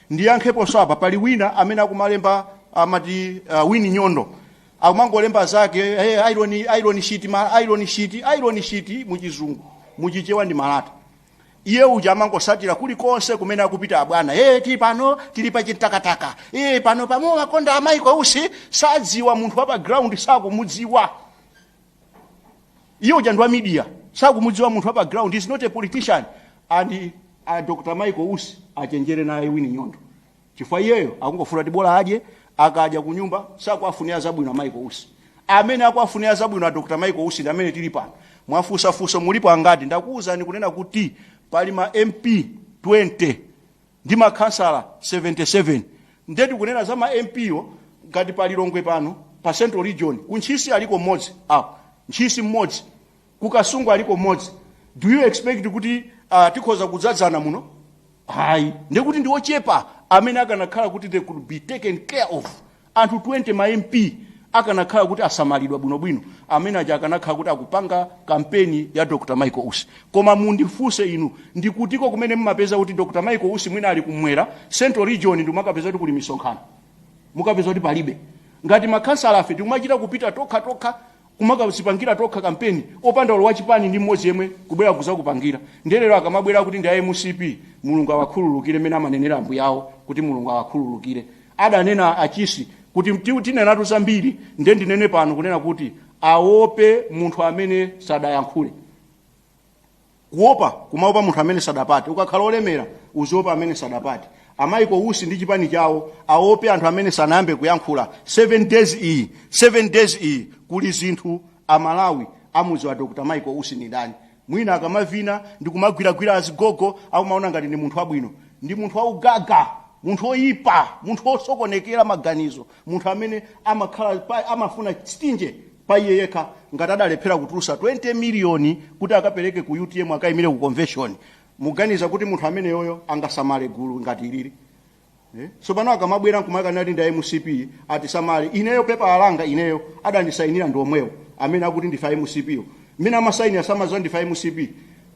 ndiyankheponso apa pali wina amene akumalemba amati uh, wini nyondo akumangolemba zake hey, iron, iron sheet, Malata, iron sheet, iron sheet muchizungu muchichewa ndi malata iye uja amangosatira kulikonse kumene akupita abwana hey, tili pano tili pa chintakataka hey, pano pamawakonda a michael usi sadziwa munthu wa pa ground sakumudziwa iye uja ndi wa media sakumudziwa munthu wa pa ground is not a politician ndiye a dr michael usi achenjere naye wini nyondo chifukwa iyeyo akungofuna kuti bola adye akadya ku nyumba sakuwafunira zabwino a michael usi amene akuwafunira zabwino a dr michael usi ndi amene tili pano mwafunsafunso mulipo angati ndakuwuzani kunena kuti pali ma mp 20 ndi makhansala 77 nde tikunena za ma mp yo ngati pa lilongwe pano pa central region ku ntchisi aliko mmodzi apo ntchisi mmodzi ku kasungu aliko mmodzi do you expect kuti uh, tikhoza kudzadzana muno ayi ndekuti ndi ochepa amene akanakhala kuti they could be taken care of Anthu 20 ma MP akanakhala kuti asamalidwa bwinobwino amene aja akanakhala kuti akupanga kampeni ya Dr. Michael Usi. Koma mundifunse inu, ndikutiko kumene mmapeza kuti Dr. Michael Usi mwina ali kumwera, Central Region ndimukapeza kuti kuli misonkhano? Mukapeza kuti palibe. Ngati makhansalafe tikumachita kupita tokha tokha kumakadzipangira tokha kampeni opanda olo wachipani ndi mmodzi yemwe kubwera kudzakupangira ndiye lero akamabwera akuti ndi a mcp Mulungu awakhululukire mmene amanenera ambuyawo kuti Mulungu awakhululukire adanena a Chisi kuti mti- tinenatu zambiri ndiye ndinene pano kunena kuti awope munthu amene sadayankhule kuopa kumaopa munthu amene sadapate ukakhala olemera uziwopa amene sadapate a michael usi ndi chipani chawo aope anthu amene sanayambe kuyankhula 7 days iyi 7 days iyi kuli zinthu amalawi amudziwa dr michael usi ndi ndani mwina akamavina ndi kumagwiragwira azigogo akumaona ngati ndi munthu wabwino ndi munthu waugaga munthu oyipa munthu osokonekera maganizo munthu amene amakhala pa- amafuna siteji pa iye yekha ngati adalephera kutulutsa 20 million kuti akapereke ku utm akaimire ku convention muganiza kuti munthu ameneyo angasamale gulu ngati ilili Eh? tsopano akamabwera nkumakanena kuti ndi mcp atisamale ineyo pepala langa ineyo adandisainira ndi omwewo amene akuti ndifa mcp yo mmene amasainira samadziwa ndifa mcp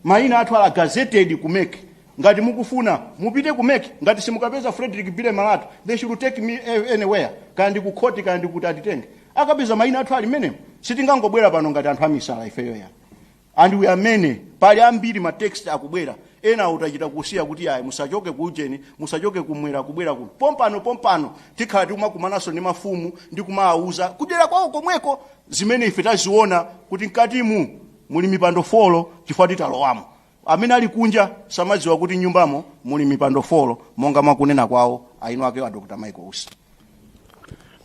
maina athu ali gazetted ku mec Ngati mukufuna, mupite ku mec, ngati simukapeza Fredrick Billy Malata, they should take me anywhere, kaya ndi ku khoti kaya ndi kuti atitenge. Akapeza maina athu ali mmenemo, sitingangobwera pano ngati anthu amisala ifeyo ayi. And we are many, pali ambiri ma text akubwera, enawo tachita kusiya kuti yayi musachoke ku ujeni, musachoke kumwera kubwera kuno. Pompano pompano tikhala tikumakumananso ndi mafumu ndi kumawauza kudera kwawo komweko zimene ife taziona kuti mkatimu muli mipando folo chifukwa titalowamo. Amene ali kunja samadziwa kuti m'nyumbamo muli mipando four monga mwa kunena kwawo eni akewo a Dr. Michael Usi.